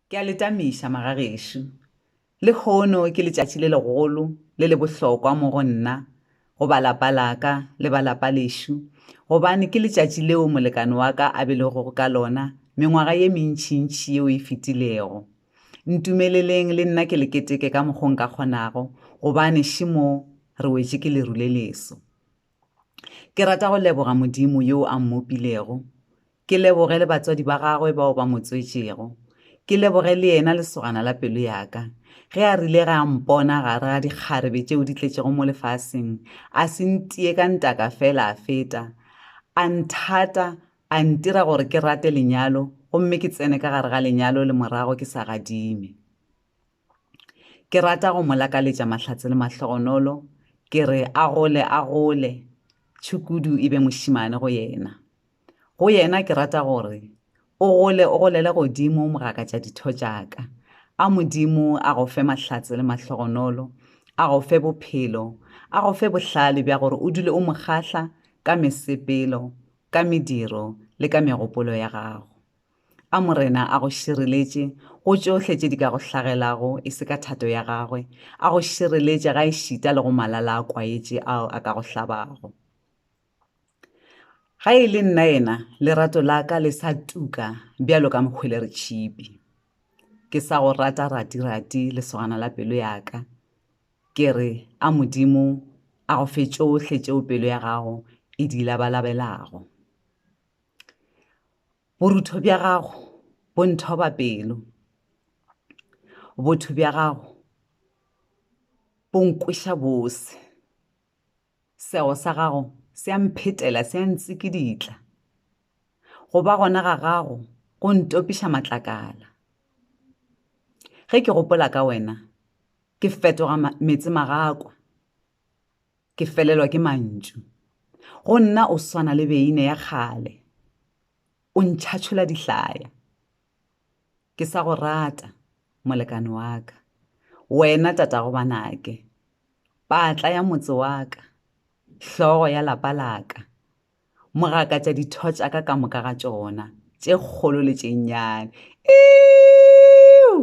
Ke a le tamiša, magagešo. Lehono ke letšatši le legolo, le le bohlokwa mo go nna, go ba lapa la-ka le ba lapa lešo, gobane ke letšatši leo molekane wa-ka a belegwego ka lona mengwaga ye mentšintši yeo e fetilego. Ntumeleleng le nna ke le keteke ka mokgwa o nka kgonago, gobane še mo re wetše ke leru le leso. Ke rata go leboga Modimo yo a mmopilego, ke leboge le batswadi ba gagwe bao ba mo tswetšego, ke leboge le yena lesogana la pelo ya ka. Ge a rile ge a mpona gare ga dikgarebe tšeo di tletšego mo lefaseng, a se ntiye ka ntaka fela a feta, a nthata, a ntira gore ke rate lenyalo gomme ke tsene ka gare ga lenyalo le morago ke sa gadime. Ke rata go mo lakaletša mahlatse le mahlogonolo, ke re a gole, a gole, tšhukudu e be mošemane go yena. Go yena ke rata go re, o gole, o golele godimo mogakatša ditho tša ka. A Modimo a go fe mahlatse le mahlogonolo, a go fe bophelo, a go fe bohlale bja gore o dule o mo kgahla ka mesepelo, ka mediro le ka megopolo ya gago. A Morena a go šireletše go tšohle tše di ka go hlagelago, e se ka thato ya Gagwe, a go šireletše gaešita le go malala a kwaetše ao a ka go hlabago. Ga e le nna yena, lerato la ka le sa tuka bjalo ka mohweleretshipi. Ke sa go rata ratirati, lesogana la pelo ya ka. Ke re, A Modimo a go fe tšohle tšeo pelo ya gago e di labalabelago. Borutho bja gago bo nthoba pelo, botho bja gago bo nkweša bose. Sego sa gago se a mphetela, se a ntsikiditla, go ba gona ga gago go ntopiša matlakala. Ge ke gopola ka wena, ke fetoga meetse magakwa, Ke felelwa ke mantšu. Go nna o swana le beine ya kgale. O ntšhatšhola dihlaya. Ke sa go rata, molekane wa ka. Wena tatago banake. Patla ya motse wa ka. Hlogo ya lapa la ka. Mogakatša ditho tša ka ka moka ga tšona, tše kgolo le tše nnyane. Iiuu!